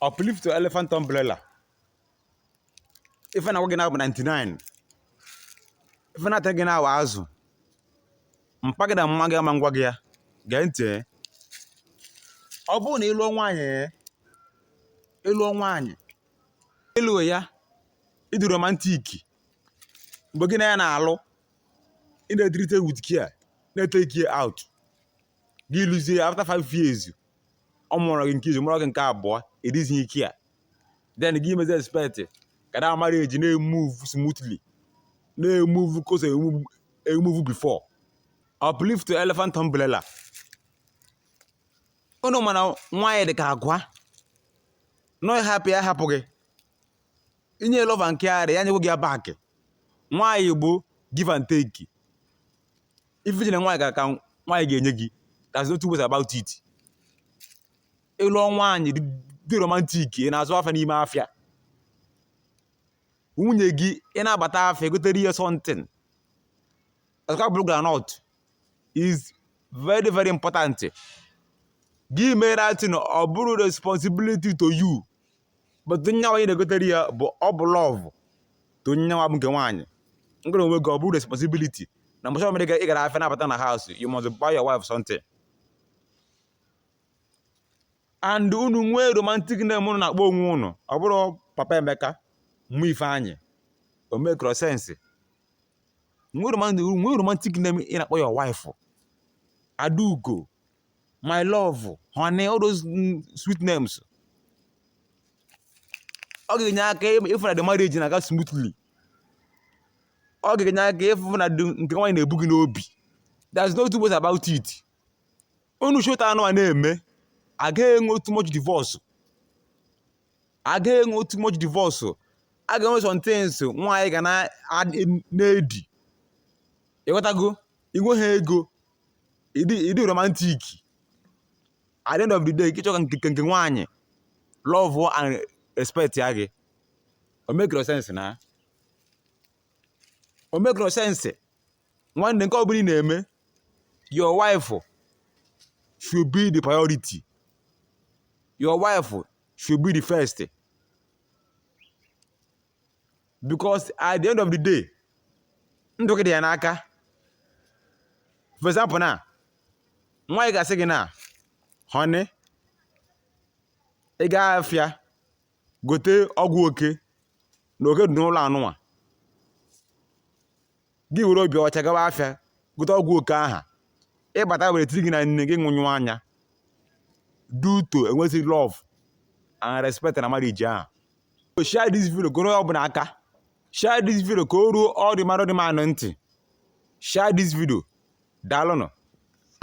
uplift to elephant umbrella ife na-agwa gị na-abụ 99 ife na-ata gị na-awa azụ mpa gị na mma gị ama agwa gị ya gee ntị ọ bụrụ na ịlụọ nwaanyị ịlụọ nwaanyị ịlụ ya ịdị romantic mgbe gị na ya na-alụ ị na-etreat ya with care na-etake ya out gị lụzie after five years ọ mụrụ gị nke izizi mụrụ gị nke abụọ ịdịzi ecare then gị mezi expect ka the marriage na-emove smoothly na-emove ka o si emove before uplift elephant umbrella unu ma na nwaanyị dị ka agwa nọ ị hapụ ya hapụ gị inye love and care ya nyekwa gị ya back nwaanyị bụ give and take ife i nye nwaanyị ka ka nwaanyị ga-enye gị there's no two ways about it ịlụ nwaanyị dị- dị romantic ị na-azụ afịa n'ime afịa nwunye gị ị na-abata afịa gotere ya something azụka bụrụ groundnut is very very important gị mere that thing ọ bụrụ responsibility to you but to onye ahụ ị na-egotere ya bụ ọ bụ love to onye ahụ bụ nke nwaanyị nke onwe gị ọ bụrụ responsibility na mgbe ọbụla ị gara afịa na-abata na house you must buy your wife something and unu nwee romantic name unu na-akpọ onwe unu ọ bụrọ papa emeka mama ifeanyị o makerọ sense nwee romantic name ị na-akpọ your wife adaugo my love honey all those mm, sweet names ọ ga-enye aka ịfụ na the marriage na-aga smoothly ọ ga-enye aka ịfụ na nke nwaanyị na-ebu gị n'obi there's no two ways about it unu shi otu anwa na-eme agaghị enwe too much divorce agaghị enwe too much divorce a ga-enwe some things nwaanyị ga na-edi ịghọtago inwe ha ego ịdị ịdị romantic at the end of the day ịchọ ka nke nke nwaanyị love and respectịa gị o makerọ sense na o makerọ sense nwanne nke ọbụla ị na-eme your wife should be the priority your wife should be the first because at the end of the day ndụ gị dị ya n'aka for example na nwaanyị ga-asị gị na honey ị gaa afịa gote ọgwụ oke na oke dị n'ụlọ anụnwa gị were obi ọcha gawa afịa gote ọgwụ oke aha ịbata were tiri gị na nne gị nwụnyụ anya due to enweghị love and respect na marriage ahụ so share this video goro ọ bụla aka share this video ka o ruo all the married man ntị share this video daalụnụ